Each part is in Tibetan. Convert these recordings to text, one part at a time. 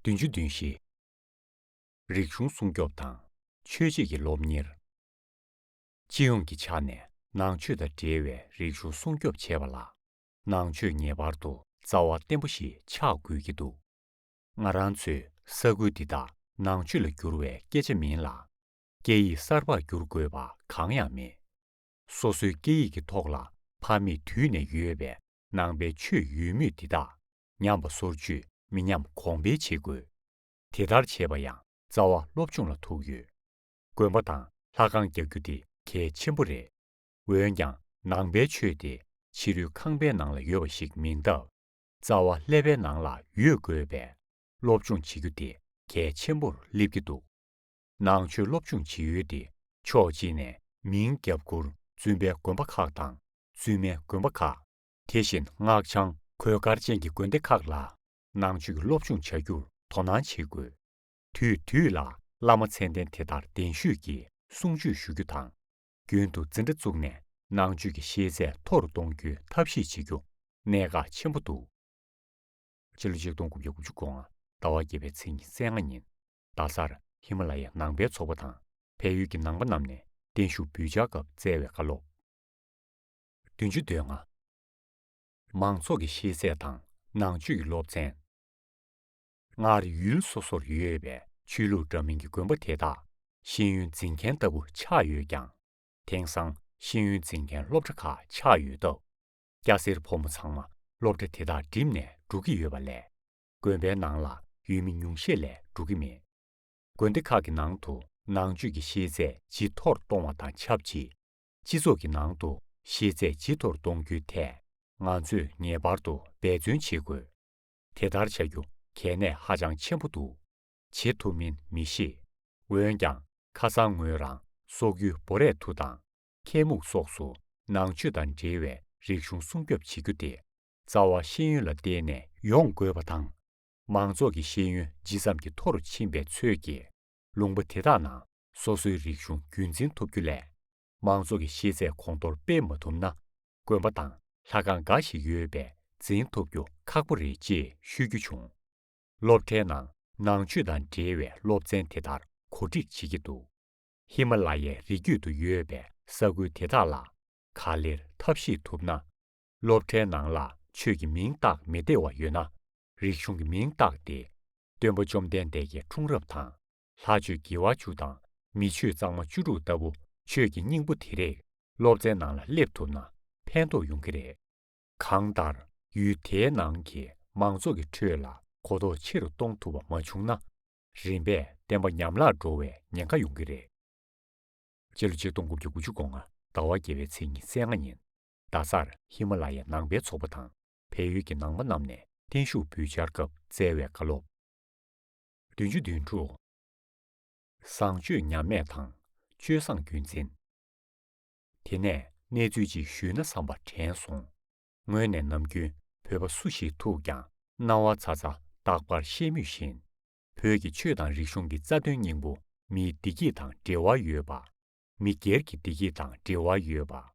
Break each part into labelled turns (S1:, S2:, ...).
S1: བདུན་ཅུ་བདུན་བཞི། རིག་གཞུང་སྲུང་སྐྱོབ་དང་ཆོས་བྱེད་ཀྱི་སློབ་གཉེར། སྤྱི་ཡོངས་ཀྱི་ཆ་ནས་ནང་ཆོས་དང་འབྲེལ་བའི་རིག་གཞུང་སྲུང་སྐྱོབ་བྱེད་པ་ལ་ནང་ཆོས་ངེས་པར་དུ་རྩ་བ་བརྟན་པོ་ཞིག་ཆགས་དགོས་ཀྱི་འདུག་ང་རང་ཚོའི་ས་ཁུལ་འདི་དག་ནང་ཆོས་ལ་བསྒྱུར་བའི་སྐད་ཆ་མིན་ལ། སྐད་ཡིག་གསར་པར་བསྒྱུར་དགོས་པ་གང་ཡང་མེད། སོ་སོའི་སྐད་ཡིག་གི་ཐོག་ལ་ཕ་མེས་དུས་ནས་ཡོད་པའི་ནང་པའི་ཆོས་ཡོད་མུས་འདི་དག་ཉམས་པ་སོར་ཆུད་མི་ཉམས་གོང་འཕེལ་བྱེད་དགོས། དེ་ལྟར་བྱེད་པ་ཡང་རྩ་བ་སློབ་སྦྱོང་ལ་ཐུག་ཡོད། དགོན་པ་དང་ལྷ་ཁང་རྒྱག་རྒྱུ་དེ་གལ་ཆེན་པོ་རེད། འོན་ཀྱང་ནང་པའི་ཆོས་དེ་ཕྱི་རོལ་ཁང་པའི་ནང་ལ་ཡོད་པ་ཞིག་མིན་སྟབས། རྩ་བ་ཀླད་པའི་ནང་ལ་ཡོད་དགོས་པས་སློབ་སྦྱོང་བྱེད་རྒྱུ་དེ་གལ་ཆེན་པོར་སླེབས་ཀྱི་འདུག། ནང་ཆོས་སློབ་སྦྱོང་བྱེད་ཡུལ་ཏེ་ཕྱོགས་གཅིག་ནས་མིང་རྒྱབ་མགུར་བཙུན་པའི་དགོན་པ་ཁག་དང་བཙུན་མའི་དགོན་པ་ཁག། དེ་བཞིན་སྔགས་འཆང་གོས་དཀར་ཅན་གྱི་དགོན་སྡེ་ཁག་ལ་ནང་ཆོས་ཀྱི་སློབ་སྦྱོང་བྱ་རྒྱུར་དོ་སྣང་བྱེད་དགོས། དུས་དུས་ལ་བླ་མ་མཚན་ལྡན་དེ་དར་གདན་ཞུས་ཀྱིས་གསུང་ཆོས་ཞུ་རྒྱུ་དང། རྒྱུན་དུ་འཛིན་གྲྭ་བཙུགས་ནས་ནང་ཆོས་ཀྱི་ཤེས་ཚད་མཐོ་རུ་གཏོང་རྒྱུའི་ཐབས་ཤེས་བྱེད་རྒྱུ་གནད་འགག་ཆེན་པོ་འདུག། སྤྱི་ལོ་ཆིག་སྟོང་དགུ་བརྒྱ་དགུ་ཅུ་གོང་ཟླ་བ་བརྒྱད་པའི་ཚེས་ཉི་ཚེས་ལྔ་ཉིན་རྡ་སར་ཧི་མ་ལ་ཡའི་ནང་པའི་ཚོགས་པ་དང་བལ་ཡུལ་གྱི་ནང་པ་རྣམས་ནས་བརྟན་བཞུགས་འབུལ་འཆར་སྐབས་བསྩལ་བའི་བཀའ་སློབ། བདུན་ཅུ་དོན་ལྔ། མང་ཚོགས་ཀྱི་ཤེས་ཚད་དང་ནང་ཆོས་ཀྱི་སློབ་ཚན། སྔར་ཡུལ་སོ་སོར་ཡོད་པའི་ཆོས་ལུགས་འདྲ་མིན་གྱི་དགོན་པ་དེ་དག་ཤེས་ཡོན་འཛིན་མཁན་ལྟ་བུ་ཆགས་ཡོད་ཀྱང། དེང་སང་ཤེས་ཡོན་འཛིན་མཁན་སློབ་གྲྭ་ཁག་ཆགས་ཡོད་སྟབས། སྐྱ་སེར་ཕོ་མོ་ཚང་མ་སློབ་གྲྭ་དེ་དག་འགྲིམས་ནས་འགྲོ་གི་ཡོད་པ་ལས། དགོན་པའི་ནང་ལ་ཡུལ་མི་ཉུང་ཤས་ལས་འགྲོ་གི་མེད། དགོན་སྡེ་ཁག་གི་ནང་དུ་ནང་ཆོས་ཀྱི་ཤེས་ཚད་ཇི་མཐོར་གཏོང་བ་དང་ཆབས་ཅིག་སྤྱི་ཚོགས་ཀྱི་ནང་དུ་ཤེས་ཚད་ཇི་མཐོར་གཏོང་རྒྱུའི་ཐད་ང་ཚོས་ངེས་པར་དུ་འབད་བརྩོན་བྱེད་དགོས། དེ་ལྟར་བྱ་རྒྱུ་གལ་གནད་ཧ་ཅང་ཆེན་པོ་འདུག་བྱེད་ཐུབ་མིན་མི་ཤེས། འོན་ཀྱང་ཁ་སང་ངོས་རང་སོག་ཡུལ་སྦོ་རས་ཐུ་དང་ཁལ་མུག་སོགས་སུ་ནང་ཆོས་དང་འབྲེལ་བའི་རིག་གཞུང་སྲུང་སྐྱོབ་བྱེད་རྒྱུ་དེ་རྩ་བ་ཤེས་ཡོན་ལ་བརྟེན་ནས་ཡོང་དགོས་པ་དང། མང་ཚོགས་ཀྱི་ཤེས་ཡོན་ཇི་ཙམ་གྱིས་མཐོ་རུ་ཕྱིན་པའི་ཚོད་ཀྱིས། ལུང་པ་དེ་དག་ནང་སོ་སོའི་རིག་གཞུང་རྒྱུན་འཛིན་ཐུབ་རྒྱུ་ལས། མང་ཚོགས་ཀྱི་ཤེས་ཚད་གོང་མཐོར་སྤེལ་མ་ཐུབ་ན། དགོན་པ་དང་ལྷ་ཁང་འགའ་ཞིག་ཡོད་པས་འཛིན་ཐུབ་རྒྱུ་ཁག་པོ་རེད་ཅེས་ཤོད་རྒྱུ་བྱུང། སློབ་གྲྭའི་ནང་ནང་ཆོས་དང་འབྲེལ་བའི་སློབ་ཚན་དེ་ལྟར་གོ་སྒྲིག་བྱེད་ཀྱི་འདུག་ཧི་མ་ལ་ཡའི་རི་རྒྱུད་དུ་ཡོད་པའི་ས་ཁུལ་དེ་དག་ལ་ག་ལེར་ཐབས་ཤེས་ཐུབ་ན། སློབ་གྲྭའི་ནང་ལ་ཆོས་ཀྱི་མིང་བཏགས་མི་བདེ་བ་ཡོད་ན། རིག་གཞུང་གི་མིང་བཏགས་ཏེ། སྟོན་པ་བཅོམ་ལྡན་འདས་ཀྱི་འཁྲུངས་རབས་དང། ལྷ་ཆོས་དགེ་བ་བཅུ་དང་མི་ཆོས་གཙང་མ་བཅུ་དྲུག་ལྟ་བུ་ཆོས་ཀྱི་སྙིང་པོ་དེ་རིགས་སློབ་གྲྭའི་ནང་ལ་སླེབས་ཐུབ་ན་ཕན་ཐོགས་ཡོང་གི་རེད། གང་ལྟར་ཡུལ་དེའི་ནང་གི་མང་ཚོགས་ཀྱི་ཁྲོད་ལ་གོ་རྟོགས་ཆེ་རུ་གཏོང་ཐུབ་པ་མ་བྱུང་ན། རིམ་པས་བསྟན་པ་ཉམས་བརླག་འགྲོ་བའི་ཉེན་ཁ་ཡོང་གི་རེད། སྤྱི་ལོ་ཆིག་སྟོང་དགུ་བརྒྱ་དགུ་ཅུ་གོང་ཟླ་བ་བརྒྱད་པའི་ཚེས་ཉི་ཚེས་ལྔ་ཉིན། རྡ་སར་ཧི་མ་ལ་ཡའི་ནང་པའི་ཚོགས་པ་དང་བལ་ཡུལ་གྱི་ནང་པ་རྣམས་ནས་བརྟན་བཞུགས་འབུལ་འཆར་སྐབས་སྩལ་བའི་བཀའ་སློབ། བདུན་ཅུ་བདུན་དྲུག། བཟང་སྤྱོད་ཉམས་དམས་དང་སྤྱོད་བཟང་རྒྱུན་འཛིན། དེ་ནས་གནས་ཚུལ་ཅིག་ཞུས་ན་བསམ་པ་དྲན་སོང། ངོས་ནས་ནམ་རྒྱུན་བོད་པ་སུ་ཞིག་ཐུག་ཀྱང་སྣང་བ་ཚ་ཚ་རྟག་པར་བཤད་མུས་བཞིན། བོད་ཀྱི་ཆོས་དང་རིག་གཞུང་གི་རྩ་དོན་སྙིང་པོ་མིའི་བདེ་སྐྱིད་དང་འབྲེལ་བ་ཡོད་པ། མི་སྒེར་གྱི་བདེ་སྐྱིད་དང་འབྲེལ་བ་ཡོད་པ།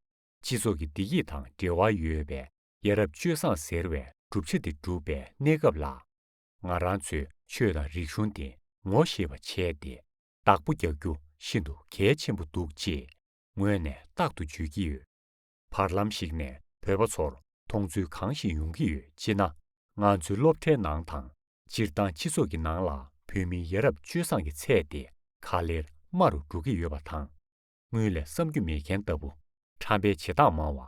S1: སྤྱི་ཚོགས་ཀྱི་བདེ་སྐྱིད་དང་འབྲེལ་བ་ཡོད་པས་ཡ་རབས་སྤྱོད་བཟང་ཟེར་བའི་གྲུབ་ཆ་དེ་གྲུབ་པའི་གནས་སྐབས་ལ། ང་རང་ཚོས་ཆོས་དང་རིག་གཞུང་དེ་ངོ་ཤེས་པ་བྱས་ཏེ་བདག་པོ་རྒྱག་རྒྱུ་ཤིན་ཏུ་གལ་ཆེན་པོ་འདུག་ཅེས་ངོས་ནས་རྟག་ཏུ་བརྗོད་ཀྱི་ཡོད། བར་ལམ་ཞིག་ནས་བོད་པ་ཚོར་མཐོང་ཚུལ་གང་ཞིག་ཡོང་གི་ཡོད་ཅེ་ན། ང་ཚོའི་སློབ་གྲྭའི་ནང་དང་སྤྱིར་བཏང་སྤྱི་ཚོགས་ཀྱི་ནང་ལ་བོད་མིའི་ཡ་རབས་སྤྱོད་བཟང་གི་ཚད་དེ་ག་ལེར་དམའ་རུ་འགྲོ་གི་ཡོད་པ་དང། དངུལ་ལས་བསམ་རྒྱུ་མེད་མཁན་ལྟ་བུ། ཁྲམ་པའི་བྱེད་སྟངས་མང་བ།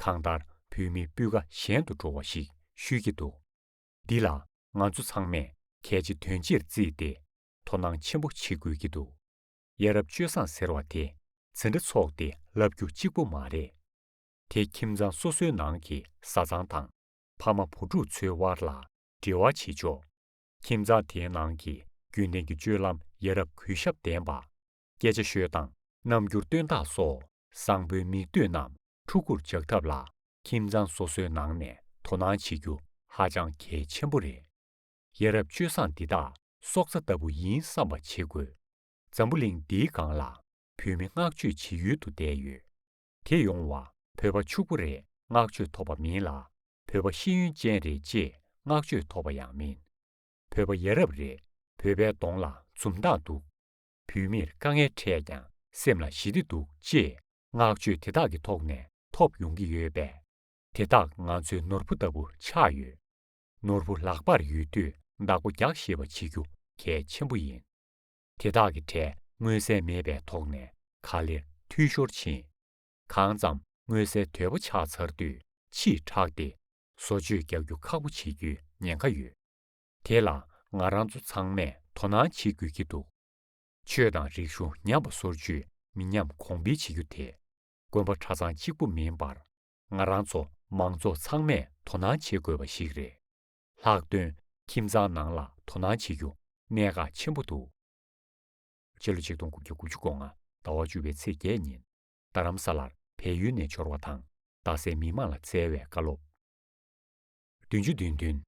S1: གང་ལྟར་བོད་མི་སྤུས་ཀ་ཞན་དུ་འགྲོ་བ་ཞིག་ཤོད་ཀྱི་འདུག་འདི་ལ་ང་ཚོ་ཚང་མས་གལ་ཆེ་དོན་ཆེར་བརྩིས་ཏེ་དོ་སྣང་ཆེན་པོ་བྱེད་དགོས་ཀྱི་འདུག་ཡ་རབས་སྤྱོད་བཟང་ཟེར་བ་དེ་ཚེ་འདྲ་ཚོགས་ཏེ་ལབ་རྒྱུ་གཅིག་པོ་མ་རེད། དེ་ཁྱིམ་ཚང་སོ་སོའི་ནང་གི་བཟའ་ཚང་དང་ཕ་མ་བུ་ཕྲུག་ཚོའི་དབར་ལ་འབྲེལ་བ་བྱེད་ཆོག་ཁྱིམ་ཚང་དེའི་ནང་གི་རྒྱུན་ལྡན་གྱི་སྤྱོད་ལམ་ཡ་རབས་གུས་ཞབས་ལྡན་པ། སྐད་ཆ་ཤོད་སྟངས་རྣམ་འགྱུར་སྟོན་སྟངས་སོགས་བཟང་པོའི་མིག་ལྟོས་རྣམས་ཕྲུ་གུར་འཇགས་ཐབས་ལ་ཁྱིམ་ཚང་སོ་སོའི་ནང་ནས་དོ་སྣང་བྱེད་རྒྱུ་ཧ་ཅང་གལ་ཆེན་པོ་རེད། ཡ་རབས་སྤྱོད་བཟང་འདི་དག་སྲོག་རྩ་ལྟ་བུ་ཡིན་བསམ་པ་བྱེད་དགོས། འཛམ་བུ་གླིང་འདིའི་སྒང་ལ་བོད་མི་བསྔགས་བརྗོད་བྱེད་ཡུལ་དུ་བསྡད་ཡོད། དེ་ཡོང་བ་བོད་པ་ཕྱུག་པོ་རེད་བསྔགས་བརྗོད་ཐོབ་པ་མིན་ལ་བོད་པ་ཤེས་ཡོན་ཅན་རེད་ཅེས་བསྔགས་བརྗོད་ཐོབ་པ་ཡང་མིན། བོད་པ་ཡ་རབས་རེད་བོད་པའི་གདོང་ལ་འཛུམ་མདངས་འདུག། བུད་མེད་དཀའ་ངལ་འཕྲད་ཀྱང་སེམས་ལ་ཞི་བདེ་འདུག་ཅེས་བསྔགས་བརྗོད་དེ་དག་གི་ཐོག་ནས་ཐོབ་ཡོང་གི་ཡོད་པས། དེ་དག་ང་ཚོའི་ནོར་བུ་ལྟ་བུ་ཆགས་ཡོད། ནོར་བུ་ལག་པར་ཡོད་དུས་བདག་པོ་རྒྱག་ཤེས་པ་བྱེད་རྒྱུ་གལ་ཆེན་པོ་ཡིན། དེ་དག་གི་གྲས་མངོན་གསལ་མེད་པའི་ཐོག་ནས་ག་ལེར་འཐུས་ཤོར་ཕྱིན། གང་ཙམ་མངོན་གསལ་དོད་པོ་ཆགས་ཚར་དུས་ཕྱིས་དྲགས་ཏེ་བཟོ་བཅོས་རྒྱག་རྒྱུ་ཁག་པོ་བྱེད་རྒྱུའི་ཉེན་ཁ་ཡོད། དེ་ལ་ང་རང་ཚོ་ཚང་མས་དོ་སྣང་བྱེད་དགོས་ཀྱི་འདུག་ཆོས་དང་རིག་གཞུང་ཉམས་པ་སོར་ཆུད་མི་ཉམས་གོང་འཕེལ་བྱེད་རྒྱུ་དེ་དགོན་པ་གྲྭ་ཚང་གཅིག་པུ་མིན་པར་ང་རང་ཚོ་མང་ཚོགས་ཚང་མས་དོ་སྣང་བྱེད་དགོས་པ་ཞིག་རེད། ལྷག་དོན་ཁྱིམ་ཚང་ནང་ལ་དོ་སྣང་བྱེད་རྒྱུ་གནད་འགག་ཆེན་པོ་འདུག། ཕྱི་ལོ་ཆིག་སྟོང་དགུ་བརྒྱ་དགུ་ཅུ་གོ་ལྔ་ཟླ་བ་བཅུ་བའི་ཚེས་བརྒྱད་ཉིན་རྡ་རམ་ས་ལར་བལ་ཡུལ་ནས་འབྱོར་བ་དང་རྡ་སའི་མི་མང་ལ་བསྩལ་བའི་བཀའ་སློབ། བདུན་ཅུ་བདུན་བདུན།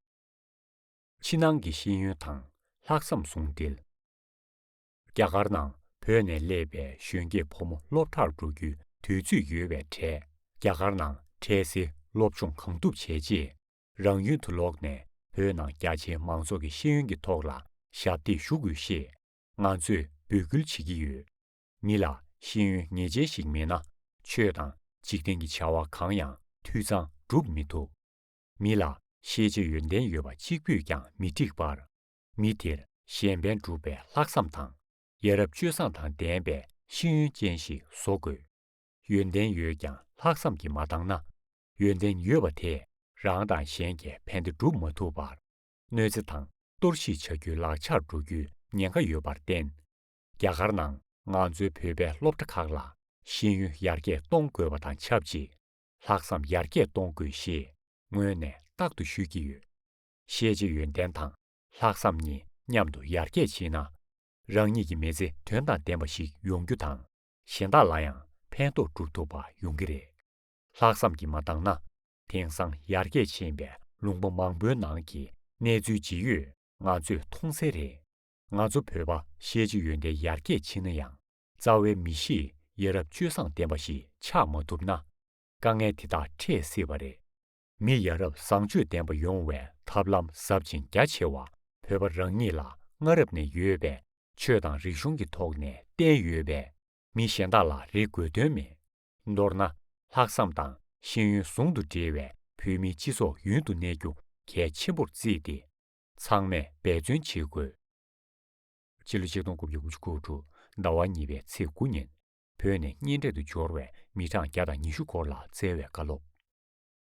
S1: ཕྱི་ནང་གི་ཤེས་ཡོན་དང་ལྷག་བསམ་ཟུང་སྦྲེལ། རྒྱ་གར་ནང་བོད་ནས་སླེབས་པའི་གཞོན་སྐྱེས་ཕོ་མོ་སློབ་གྲྭར་འགྲོ་རྒྱུའི་དུས་ཚོད་ཡོལ་བའི་གྲས་རྒྱ་གར་ནང་འཕྲལ་སེལ་སློབ་སྦྱོང་གང་ཐུབ་བྱས་རྗེས་རང་ཡུལ་དུ་ལོག་ནས་བོད་ནང་རྒྱ་ཆེའི་མང་ཚོགས་ཀྱི་ཤེས་ཡོན་གྱི་ཐོག་ལ་ཞབས་འདེགས་ཞུ་དགོས་ཞེས་ང་ཚོས་འབོད་སྐུལ་བྱེད་ཀྱི་ཡོད། མི་ལ་ཤེས་ཡོན་ངེས་ཅན་ཞིག་མེད་ན་ཆོས་དང་འཇིག་རྟེན་གྱི་བྱ་བ་གང་ཡང་འཐུས་ཚང་སྒྲུབ་མི་ཐུབ། མི་ལ་ཤེས་བྱའི་ཡོན་ཏན་ཡོད་པ་གཅིག་པུས་ཀྱང་མི་འགྲིག་པར། མི་དེར་གཞན་ཕན་སྒྲུབ་པའི་ལྷག་བསམ་དང། ཡ་རབས་སྤྱོད་བཟང་དང་ལྡན་པའི་ཤེས་ཡོན་ཅན་ཞིག་བཟོ་དགོས། ཡོན་ཏན་ཡོད་ཀྱང་ལྷག་བསམ་གྱིས་མ་བཏང་ན། ཡོན་ཏན་ཡོད་པ་དེས་རང་དང་གཞན་གྱི་ཕན་བདེ་སྒྲུབ་མ་ཐུབ་པར། གནོད་འཚེ་དང་གཏོར་བཤིག་བྱ་རྒྱུའི་ལག་ཆར་འགྲོ་རྒྱུའི་ཉེན་ཁ་ཡོད་པར་བརྟེན། རྒྱ་གར་ནང་ང་ཚོའི་བོད་པའི་སློབ་གྲྭ་ཁག་ལ་ཤེས་ཡོན་ཡར་རྒྱས་གཏོང་དགོས་པ་དང་ཆབས་ཅིག་ལྷག་བསམ་ཡར་རྒྱས་གཏོང་དགོས་ཞེས་སྔོན་ནས་རྟག་ཏུ་ཤོད་ཀྱི་ཡོད། ཤེས་བྱའི་ཡོན་ཏན་དང་ལྷག་བསམ་གཉིས་མཉམ་དུ་ཡར་རྒྱས་ཕྱིན་ན། རང་ཉིད་ཀྱི་མི་ཚེ་དོན་དང་ལྡན་པ་ཞིག་ཡོང་རྒྱུ་དང་གཞན་དག་ལ་ཡང་ཕན་ཐོགས་སྒྲུབ་ཐུབ་པ་ཡོང་གི་རེད། ལྷག་བསམ་གྱིས་མ་བཏང་ན་དེང་སང་ཡར་རྒྱས་ཕྱིན་པའི་ལུང་པ་མང་པོའི་ནང་གི་གནས་ཚུལ་ཇི་ཡོད་ང་ཚོས་མཐོང་གསལ་རེད། ང་ཚོ་བོད་པ་ཤེས་བྱའི་ཡོན་ཏན་ཡར་རྒྱས་ཕྱིན་ན་ཡང་རྩ་བའི་མི་གཤིས་ཡ་རབས་སྤྱོད་བཟང་ལྡན་པ་ཞིག་ཆགས་མ་ཐུབ་ན། དཀའ་ངལ་དེ་དག་འཕྲད་སྲིད་པ་རེད། མི་ཡ་རབས་བཟང་སྤྱོད་ལྡན་པ་ཡོང་བའི་ཐབས་ལམ་ཟབ་ཅིང་རྒྱ་ཆེ་བ་བོད་པ་རང་ཉིད་ལ་སྔ་རབས་ནས་ཡོད་པའི་ཆོས་དང་རིག་གཞུང་གི་ཐོག་ནས་བསྟན་ཡོད་པས་མི་གཞན་དག་ལ་རེ་དགོས་དོན་མེད། མདོར་ན་ལྷག་བསམ་དང་ཤེས་ཡོན་ཟུང་དུ་འབྲེལ་བའི་བོད་མིའི་སྤྱི་ཚོགས་ཡུན་དུ་གནས་རྒྱུ་གལ་ཆེན་པོར་བརྩིས་ཏེ་ཚང་མས་འབད་བརྩོན་བྱེད་དགོས། སྤྱི་ལོ་ཆིག་སྟོང་དགུ་བརྒྱ་དགུ་ཅུ་དགུ་དྲུག་ཟླ་བ་གཉིས་པའི་ཚེས་དགུ་ཉིན། བོད་ནས་གཉེན་འཕྲད་དུ་འབྱོར་བའི་མི་གྲངས་བརྒྱ་དང་ཉི་ཤུ་སྐོར་ལ་བསྩལ་བའི་བཀའ་སློབ།